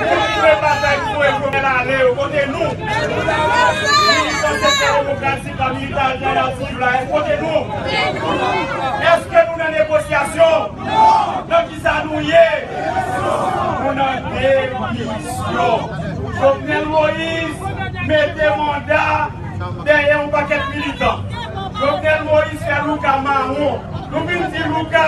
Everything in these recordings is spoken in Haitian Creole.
Kontinye batay pou Noel Jovenel ale yo kote nou. Militan sektè demokratik la, militan altènativ la yo kote nou. Eske nou nan negosyasyon? Nan kisa nou ye? Nou nan demisyon. Jovenel Moïse mete manda dèyè yon pakèt militan. Jovenel Moïse fè louka mawon. Nou vin di louka.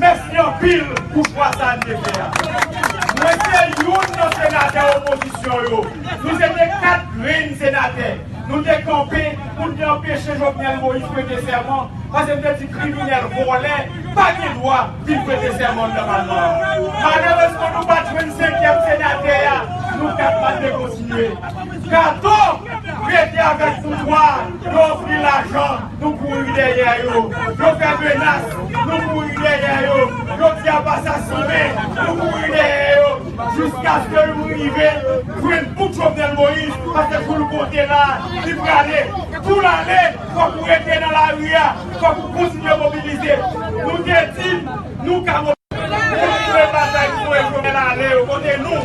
Mèsi anpil pou chwa sa n te fè a. Mwen se youn nan senatè opozisyon yo. Nou se te 4 grenn senatè. Nou te kanpe pou n te anpeche Jovenel Moïse prete sèman pase n te di kriminèl vòlè pa gen dwa vin prete sèman anndan palman an. Malerezman nou pa t jwenn senkyèm senatè a, nou 4 pa t vle kontinye. Kato rete avèk pouvwa, yo ofri lajan. Nou kouri dèyè yo, yo fè menas, nou kouri dèyè yo, yo di ap asasinen, nou kouri dèyè yo, jiskaske nou rive jwenn bout Jovenel Moïse, paske kou l konte la a, li prale. Kou l ale, fòk ou rete nan lari a, fòk ou kontinye mobilize. Nou te di n, nou ka mobilize. Kontinye batay pou voye Jovenel ale yo, kote nou?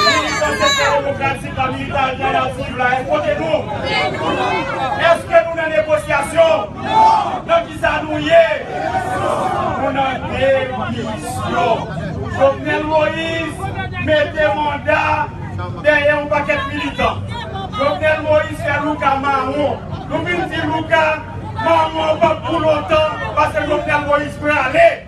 Militan Sektè Demokratik. Sa militan Ayisyen ap viv la e kote nou? Eske nou nan negosyasyon? Nan kisa nou ye? Nou nan demisyon. Jovenel Moïse mete manda dèyè yon pakèt militan. Jovenel Moïse fè Louca mawon. Nou vin di Louca mawon an pap pou lontan paske Jovenel Moïse prale.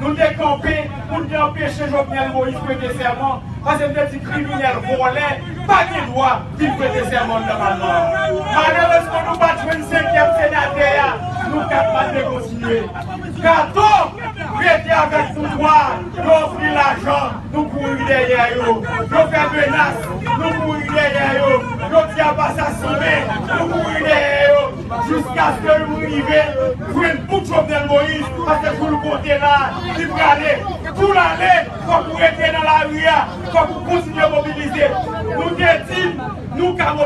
Nou te kanpe pou n te anpeche Jovenel Moïse prete sèman pase n te di kriminèl vòlè pa gen dwa vin prete sèman anndan palman an. Malerezman nou pa t jwenn senkyèm senatè a, nou 4 pa t vle kontinye. Kato rete avèk pouvwa, yo ofri lajan, nou kouri dèyè yo. Yo fè menas, nou kouri dèyè yo. Yo di ap asasinen, nou kouri dèyè yo. Jiskaske nou rive jwenn bout Jovenel Moïse paske joul konte la li prale joul ale fòk ou rete nan lari a fòk ou kontinye mobilize nou te di nou ka.